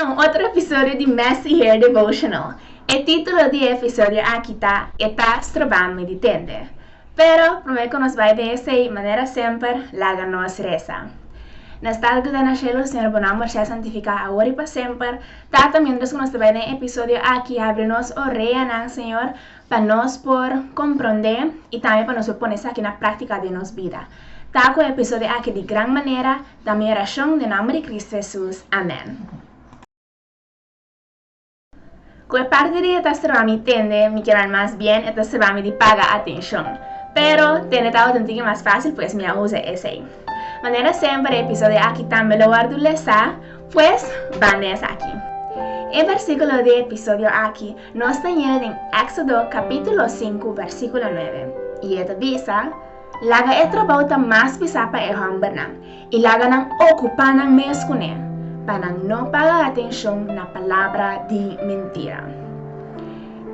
na un otro episodio di Messy Hair Devotional. E titulo di e episodio aki ta E Ta Strobam'E di Tende. Pero promé ku nos bai den esei, manera semper, laga nos resa. Na Stalke den na Shelu, Señor Bo Nòmber Sea Santifiká Awor i Pa Semper, Tata, miéntras ku nos ta bai den e episodio aki, habri nos oreanan, Señor, Pa nos por komprondé i tambe pa nos por pone esaki na práktika den nos bida. Ta ku e episodio aki di gran manera, ta mi orashon den nomber di Kristu Hesus, amèn. Ku e parti di e ta serba mi tende mi kier nan mas bien e ta serba mi di paga atenshon. Pero tende tabata un tiki mas fásil pues mi a usa esei. Manera semper e episodio aki tambe lo wòrdu lesa, pues banda esaki. E versíkulo di e episodio aki Nos ta yega den Exodo capítulo sinku versiculo nuebe, y e ta bisa, Laga e trabao ta mas pisa pa e hombernan, y laga nan ocupa nan mes cu ne, pa nan no paga atencion na palabra di mentira.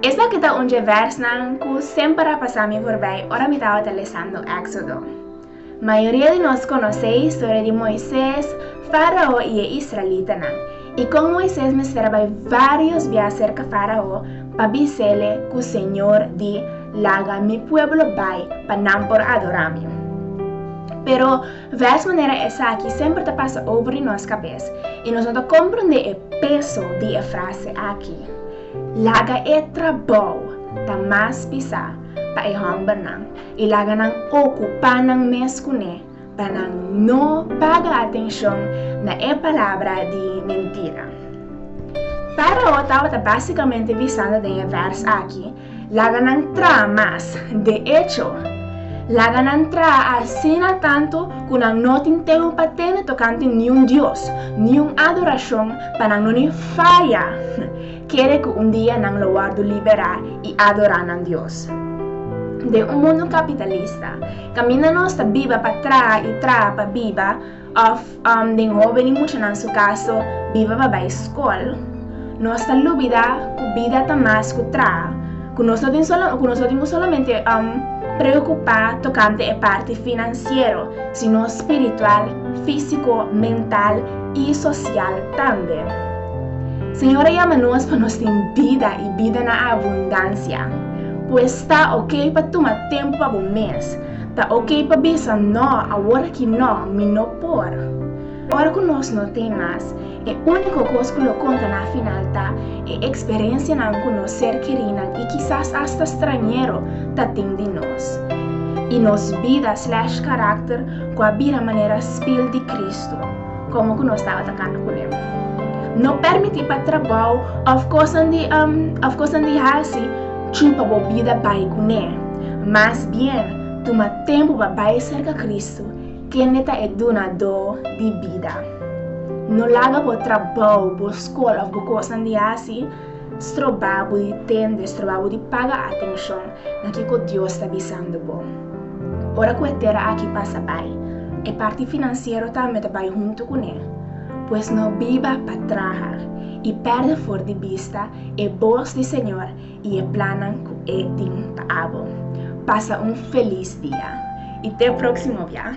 Esaki ta un dje versnan cu semper a pasa mi forbij ora mi tabata lesando Exodo. Mayoria di nos konosé historia di Moises, Fárao i e israelitanan, i kon Moises mester bai vários bia serka Fárao pa bis'ele ku Señor di laga mi pueblo bai pa nan por adorá mi. Pero, vès manera esaki semper ta pasa over di nos kabes i nos no ta komprendé e peso di e frase aki, Laga e trabou ta mas pisá pa e hòmbernan. I laga nan okupá nan mes kuné pa nan no paga atenshon na e palabra di mentira. Fárao tabata básikamente bisando den e vèrs akí, Laga nan traha mas. De echo, laga nan traha asina tantu ku nan no tin tempu pa tende tokante niun dios, niun adorashon pa nan no ni faya. kere ku un dia nan lo wòrdu liberá i adorá nan Dios. Den un mundu kapitalista, kaminda nos ta biba pa traha i traha pa biba, òf den hóben i muchanan su kaso, biba pa bai skol, nos ta lubidá ku bida ta mas ku traha, ku nos no tin ku solamente preokupá tokante e parti finansiero, sino spiritual, físiko, mental i sosial tambe. Señor a yama nos pa nos tin bida i bida na abundansia. Pues ta ok pa tuma tempu pa bo mes. Ta ok pa bisa no awor aki no, mi no por. Ora ku nos no tin mas, e úniko kos ku lo konta na final ta e eksperensianan ku nos ser kerinan i kisas asta strañero ta tin di nos. I nos bida slash karakter ku a bira manera spil di Kristu. Komo ku nos tabata kanda ku leu. No permití pa trabou òf kosnan di òf kosnan di hasi chupa bo bida bai ku ne. Mas bien, tuma tempu pa bai serka Kristu, kende ta e Dunadó di bida. No laga bo trabou, bo skol òf bo kosnan di hasi. Strobabu di tende, strobabu di paga atenshon na kiko Dios ta bisando bo. Ora ku e tera aki pasa bai, e parti finansiero tambe ta bai huntu ku ne. Pues no biba pa traha, i pèrdè for di bista e bos di Señor i e plannan ku E tin pa abo. Pasa un felis dia, i te próksimo bia!